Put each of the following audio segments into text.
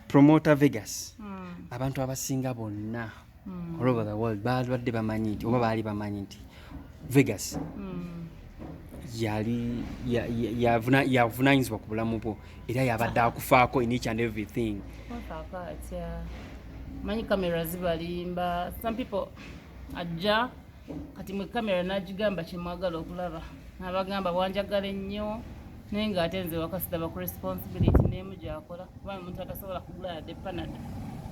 promoter Vegas mm. abantu abasinga bonna mm. all over the world balwadde bamanyi nti oba baali bamanyi nti Vegas mm. yali yavunanyizibwa ku bulamu bwo era yabadde akufaako in each and everything manyi kamera zibalimba some people ajja kati mwe kamera nagigamba kyemwagala okulaba nabagamba bwanjagala ennyo naye nga ate nze wakasitaba ku responsibility nemu gyakola kuba omuntu atasobola kugula yadde panada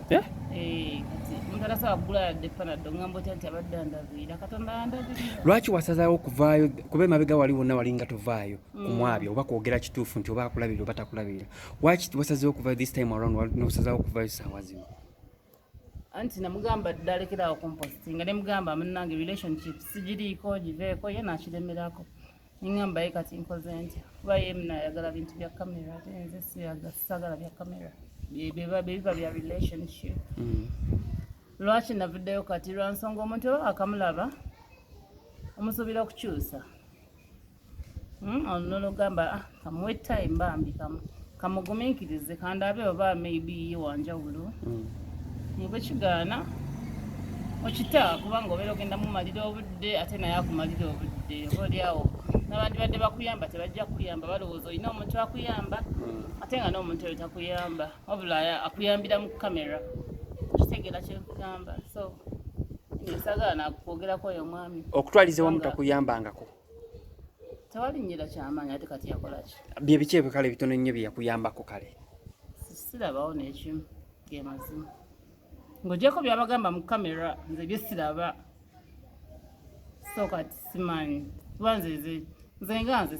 eh? eh, omuntu atasobola kugula yadde panada ngamba otya nti abadde andabiira katonda andabiira lwaki wasazawo okuvaayo kuba emabega wali wonna wali nga tovaayo mm. kumwabya oba kwogera kituufu nti oba akulabirira oba takulabirira waki wasazewo okuvayo this time around nosazawo okuvayo saawa zino anti namugamba dalekeraawo kumpostinga nemugamba munange relationship sigiriiko giveeko ye nakiremerako nengamba ye kati nkoze ntya kuba ye munayagala bintu bya kamera ate nze sagala bya kamera bebiba bya relationship mm. lwaki navuddeyo kati lwansonga omuntu oba akamulaba omusuubira okukyusa Hmm, ono nologamba ah, kamuwe time bambi kamu kamuguminkirize kandaabe oba maybe ye wanjawulo hmm. nebwe kigaana okita kubanga obeera ogenda mumalira obudde ate naye akumalira obudde oba olyawo nabandibadde bakuyamba tebajja kuyamba balowooza olina omuntu akuyamba hmm. ate nga n'omuntu oyo takuyamba wabula akuyambira mu kamera okitegeera kyenkugamba so esagaana akwogerako oyo omwami okutwaliza wamu takuyambangako tewalinyira kyamaanyi ate kati yakolaki bye biki ebyo kale bitono nnyo bye yakuyambako kale sirabawo n'ekimu ge mazima ng'ogyeko byabagamba mu kamera nze bye siraba so kati simanyi kuba nze nze nze nga nze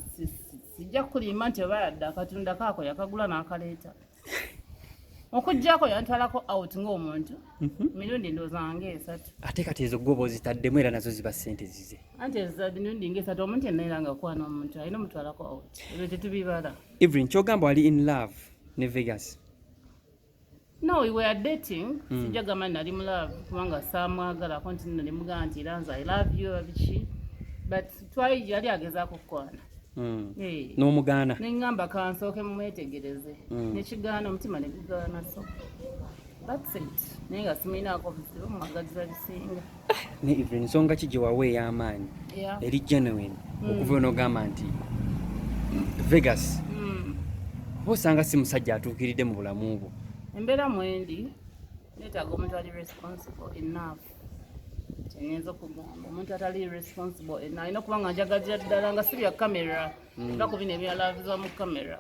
sijja kulimba nti oba yadde akatunda kaako yakagula n'akaleeta okujjako yantwalako out ng'omuntu mhm. mirundi ndooza nga esatu ate kati ezo gwoba ozitaddemu era nazo ziba sente zize anti mirundi nga esatu omuntu yenna era ngakwana omuntu alina omutwalako out ebyo tetubibala evelyn kyogamba wali in love ne vegas no we were dating mm. sijja gamba nali mu love kubanga saamwagalako nti nali mugaa nti era nze i love you abiki but twali yali agezaako kukwana Mm. Eh. n'omugaana neŋŋamba kansooke mumwetegereze mm. nekigaana omutima negugaana so naye nga simuyinaako buzibu mumagaziza bisinga even nsonga ki gyewawa ey'amaanyi eri genuine mm. okuva onogamba nti vegas oba osanga si musajja atuukiridde mu bulamu bwo embeera mwendi neetaaga omuntu ali responsible enough ngenza okugamba omuntu atali responsible eh, nalina okuba nga njagagira ddala nga si bya kamera hmm. nga ku bino ebyalaviza mu kamera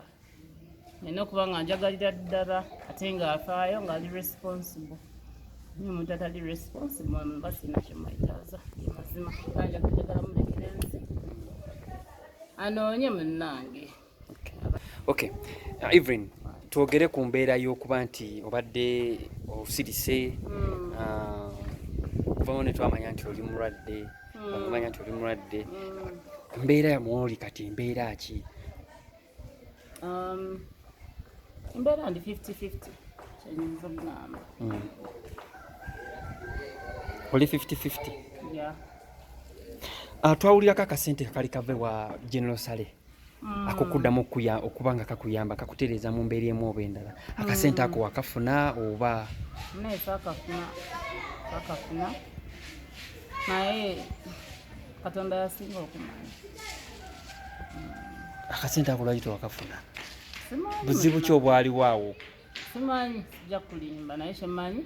nina okuba nga njagalira ddala ate nga afaayo nga ali responsible naye omuntu atali responsible mba sina kyemwetaaza mazima anjakutegala mulekerenzi anoonye munnange Okay. Uh, Evelyn, twogere ku mbeera y'okuba nti obadde osirise mm. uh, vamo ne twamanya nti oli mulwadde mm. okumanya nti oli mulwadde mm. mbeera yamwoli kati mbeera ki um, embeera ndi 5050 kyenyinza okugamba mm. oli 5050 yeah. uh, twawulirako akasente kakali kave wa general sale Mm. akokuddamu okuya okuba nga kakuyamba kakutereeza mu mbeera emu oba endala akasente mm. ako wakafuna oba naye kakafuna kakafuna naye katonda yasinga okumanya mm. akasente ako lwaki tewakafuna buzibu ki obwaliwo awo simanyi sijja kulimba naye kyemanyi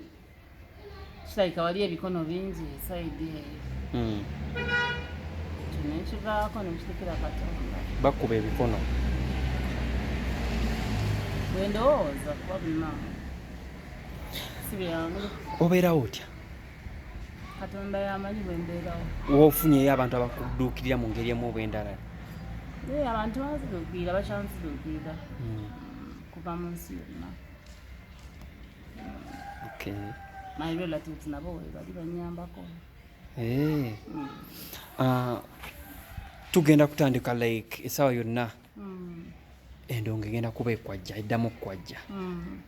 kirabika wali ebikono bingi esaidi eyo hmm. kino ekivaako nekitekera katonda bakuba ebikono bwendowooza kuba bima sibyangu obeerawo otya katonda yamanyi bwembeerawo wofunyeyo abantu abakuduukirira mu ngeri emu obwendala abantu banziduukirira bakyanziduukirira hmm. kuva mu nsi yonna my relatives nabo webali banyambako eh. mm. ah, tugenda kutandika like esawa yonna mm. endongo egenda kuba ekwajja eddamu okukwajja mm.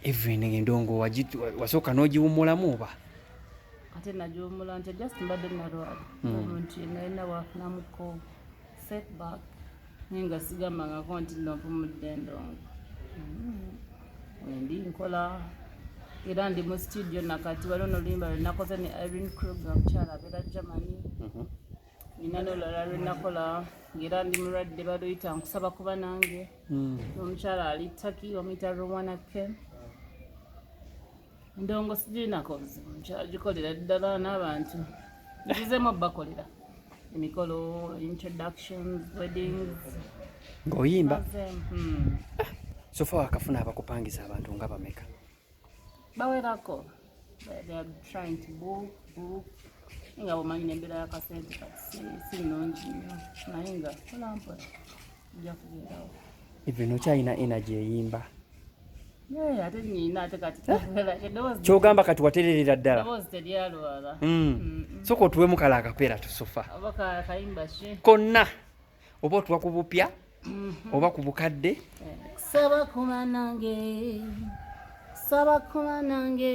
even endongo wasooka n'ogiwumulamu oba ate nagiwumula nti just mbadde nalwala omuntu yenna yenna wafunamuko setback naye nga sigambangako nti navumudde ndongo mm-hmm. wendi nkola era ndi mu studio nakati waliwo noluyimba lwenakoze ne irene kruger mukyala abeera germany mm-hmm. nina nolala lwenakola ngaera ndi mulwadde baluyita nkusaba kuba nange mm. omukyala ali taki bamuyita rowana ken ndongo sigirinako obuzibu nkyagikolera ddala n'abantu ngizeemu obubakolera emikolo introductions weddings ng'oyimba hmm. sofa wakafuna abakupangisa abantu nga bameka bawerako nga bwomanyi nembeera yakasente kati sinungi nyo naye nga kolampola even okyalina energy eyimba kyogamba kati watererera ddala hmm. soka otuwemu kala akapeera tusofa konna oba otuwa ku bupya mm-hmm. oba ku bukadde saba kuba nange saba kuba nange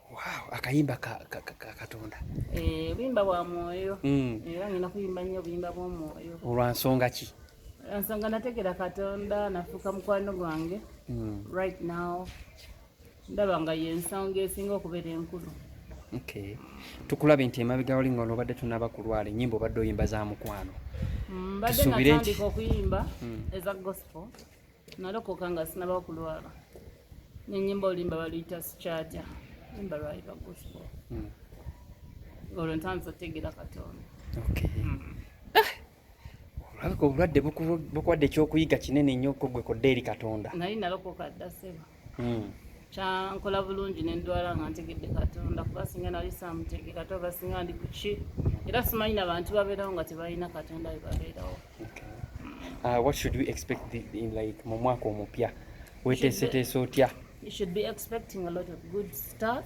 Wow, akayimba ka, ka, ka, ka Katonda. Eh, bimba bwa mwoyo. Mm. Era ngenda kuyimba nnyo bimba bwa mwoyo. Olwa nsonga ki? Nsonga nategera Katonda nafuuka mukwano gwange. Mm. Right now ndaba nga y'ensonga esinga okubeera enkulu. Okay. Tukulabe nti emabega wali nga olobadde tunaba kulwala ennyimba obadde oyimba za mukwano. Mm, mbadde natandika okuyimba mm. eza gospel. nalokoka nga sinaba okulwala nenyimba oluyimba baluyita sikyaja yimba lwayiba gospel hmm. olwo ntandisa otegera katonda hmm. ah! olabika obulwadde bukuwadde ekyokuyiga kinene nnyo kogwe kodde eri katonda naye nalokoka dda seba hmm. kyankola bulungi nendwala nga ntegedde katonda kuba singa nali samutegera ate oba singa ndi kuki era simanyi nabantu babeerawo nga tebalina katonda webabeerawo uh, what should we expect the, in like mu mwaka omupya weteeseteese otya you should be expecting a lot of good stuff